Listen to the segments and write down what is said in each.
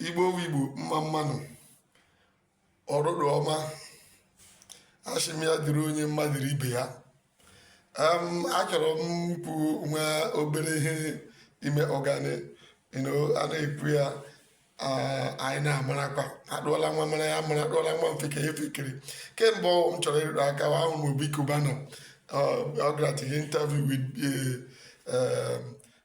igbo igbo mma mma nụ ọrụrụ ọma asị m ya dịrị onye mma dịrị ibe ya achọrọ m ikwu nwa obere ihe ime ọgani a na-ekwu ya anyị na-amarakwa adụọla nwa ọmara ya amara adụọla nwa ofeke ya efekere ke mbụ m chọrọ ịrụtụ aka ahụ m obi cubana ọ gara to interview with eh, eh,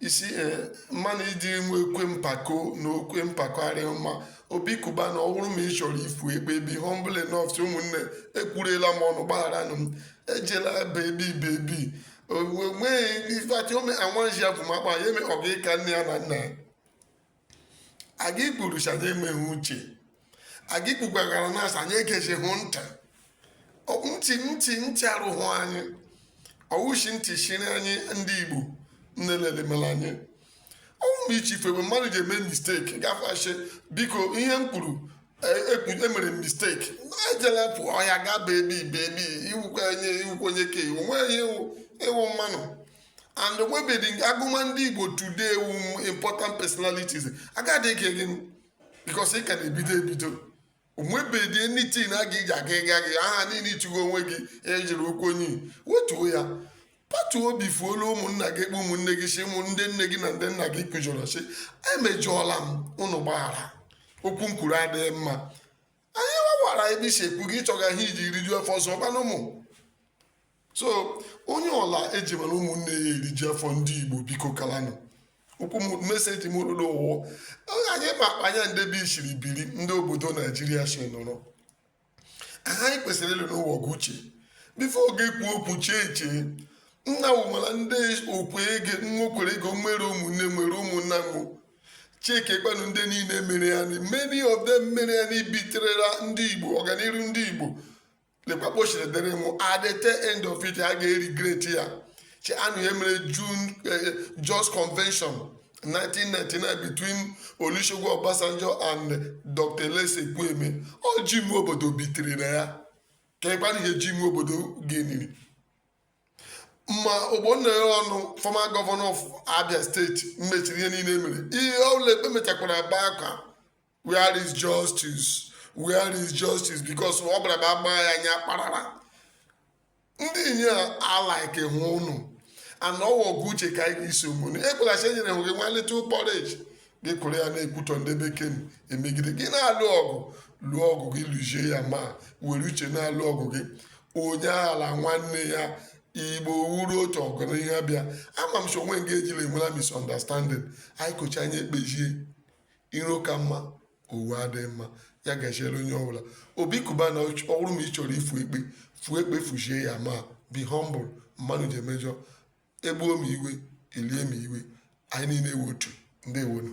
you see eh, mmanụ ịdị nwe okwu mpako na okwu mpako arịghị mma obi cubana ọ bụrụ ma ị chọrọ ifu ekpe be humble enough sị ụmụnne ekwurela m ọnụ gbagharanụ m ejela bebi bebi onweghị ifeatị ome anwanji ya bụ ma kpa ya eme ọ ga ịka nne ya na nna ya a ga ikwuru sị anyị enweghị uche a ga ikwukwagara na-asị anyị egezihụ ntị ntị arụhụ anyị ọ wụ shị ntị chiri anyị ndị igbo nnelemela anyị ọnwụ na iche ifebe mmadụ ji eme mistake gafashe biko ihe m kwuru emere m mistake ejela pụ ọhịa gaa bebi bebi ị wụkwa onye ị wụkwa onye ka ị wụ nweghị ihe ị wụ mmanụ and onwebedị nga a gụma ndị igbo today wụ important personalities agadị ike gị because ị ka na-ebido ebido onwebedị anything a ga-eji aga ịga gị aha niile ichụgo onwe gị ejiri okwu onye wetuo ya patuo obi fuola ụmụnna gị ekpe ụmụnne gị sị ụmụ ndị nne gị na ndị nna gị ị kwujọrọ sị emejọọla m ụnụ gbaghara okwu m kwuru adịghị mma anyị wawara ebe i si ekwu gị ị chọga ihe i ji rijuo afọ ọzọ gbanụ ụmụ so onye ọla ejimara ụmụnne ya eriju afọ ndị igbo biko kalanụ okwu message m rụrụ ụwụ anyị ma anya ndebe isiri biri ndị obodo naijiria si nọrọ ihe anyị kwesịrị ịlụnụ wụ ọgụ uche before gị ekwu okwu chee echiche nna wụmara ndị okwe ego nwokwere ego nwere ụmụnne nwere ụmụnna nwụ checkiekwanụ ndị niile mere ya many of them mere ya na ịbetray ndị igbo ọganiru ndị igbo lekwa ka o siri dịrị mụ at the tail end of it ha ga-eregret ya cheenụ ihe mere june eh, jos convention 1999 between olusegun obasanjo and dr alex ekwueme ọ jim nwobodo betrayrị ya keekwanụ ihe jim nwobodo gainiri ma ogbonnaya onu former governor of abia state mechiri ihe niile mere ihe ọbụla ekpe mechakwara ebe akwa where is justice where is justice because ọ bụla ma ama ya anya kparara ndị inye alikehụ unu and ọ wụ ọgụ uche ka anyị ga-esi omume ekwelachi enyere hụ gị nwa little porridge gị kuru ya na-ekwutọ ndị bekee emegide gị na-alụ ọgụ lụọ ọgụ gị lụzie ya ma were uche na-alụ ọgụ gị onye aghala nwanne ya igbo wụrụ otu ọgụ na ihe bịa ama m sị o nwe nga e jila enwela misunderstanding anyị kọchaa anyị ekpezie iro ka mma owu adịghị mma ya gachiere onye ọbụla Obi Cubana ọwụrụ ma ị chọrọ ifu ekpe fuo ekpe fuchie ya ma be humble mmanụ ji emejọ egbuo m iwe elie m iwe anyị niile ewe otu ndewonu